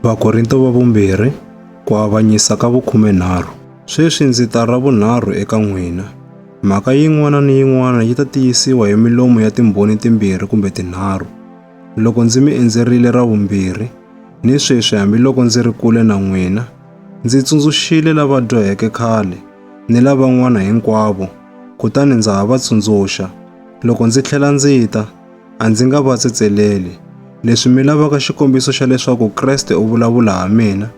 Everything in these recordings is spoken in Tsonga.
Vakorinto va vumbirhi, ku avanyisa ka vukhumenharhu. Sweswi ndzi ta ra vunharhu eka n'wina. Mhaka yin'wana ni yin'wana yi ta tiyisiwa hi milomu ya timbhoni timbirhi kumbe tinharhu. Loko ndzi mi endzerile ra vumbirhi, ni sweswi hambiloko ndzi ri kule na n'wina, ndzi tsundzuxile lava dyoheke khale ni lavan'wana hinkwavo, kutani ndza ha va tsundzuxa, loko ndzi tlhela ndzi ta, A ndzi nga va tsetseleli. Leswi mi lavaka xikombiso xa leswaku Kreste u vulavula ha mina,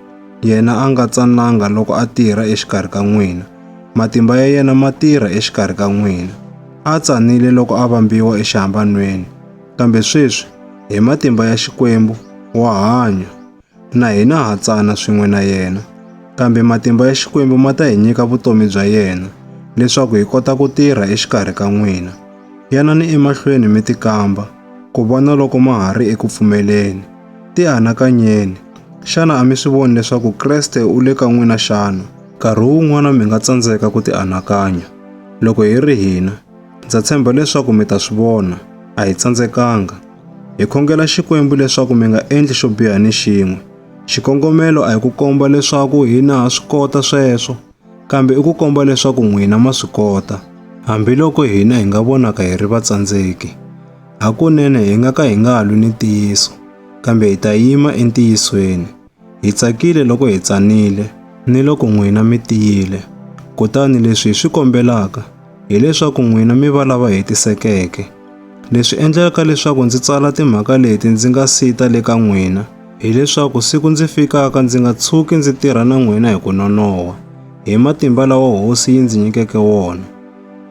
yena a nga tsananga loko a tirha exikarhi ka n'wina. Matimba ya yena ma tirha exikarhi ka n'wina. A tsanile loko a vambiwa exihambanweni, kambe sweswi, hi matimba ya Xikwembu, wa hanya. Na hina ha tsana swin'we na yena, kambe matimba ya Xikwembu ma ta hi nyika vutomi bya yena leswaku hi kota ku tirha exikarhi ka n'wina. Yanani emahlweni mi tikamba ku vona loko ma ha ri eku pfumeleni. Tianakanyeni, xana a mi swi voni leswaku Kreste u le ka n'wina xana? Nkarhi wun'wana mi nga tsandzeka ku tianakanya. Loko hi ri hina, ndza tshemba leswaku mi ta swi vona, a hi tsandzekanga. Hi khongela Xikwembu leswaku mi nga endli xo biha ni xin'we. Xikongomelo a hi ku komba leswaku hina ha swi kota sweswo, kambe i ku komba leswaku n'wina ma swi kota, hambiloko hina hi nga vonaka hi ri vatsandzeki. Hakunene hi nga ka hi nga lwi ni ntiyiso, kambe hi ta yima entiyisweni. Hi tsakile loko hi tsanile ni loko n'wina mi tiyile. Kutani leswi hi swi kombelaka hileswaku n'wina mi va lava hetisekeke. Leswi endlaka leswaku ndzi tsala timhaka leti ndzi nga si ta le ka n'wina hileswaku siku ndzi fikaka ndzi nga tshuki ndzi tirha na n'wina hi ku nonoha, hi matimba lawa Hosi yi ndzi nyikeke wona.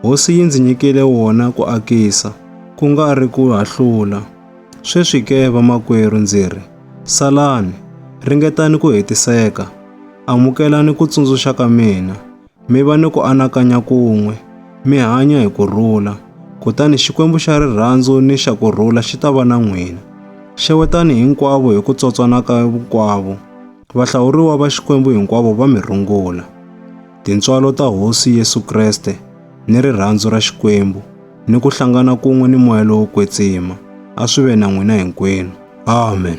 Hosi yi ndzi nyikile wona ku akisa, ku nga ri ku hahlula. Sweswi ke, vamakwerhu, ndzi ri, salani, ringetani ku hetiseka, amukelani ku tsundzuxa ka mina, mi va ni ku anakanya kun'we, mi hanya hi ku rhula, kutani Xikwembu xa rirhandzu ni xa ku rhula xi ta va na n'wina. Xewetani hinkwavo hi ku tsotswana ka hinkwavo. Vahlawuriwa va Xikwembu hinkwavo va mi rungula. Tintswalo ta Hosi Yesu Kreste ni rirhandzu ra Xikwembu ni ku hlangana kun'we ni moya lowo kwetsima a swi ve na n'wina hinkwenu. Amen.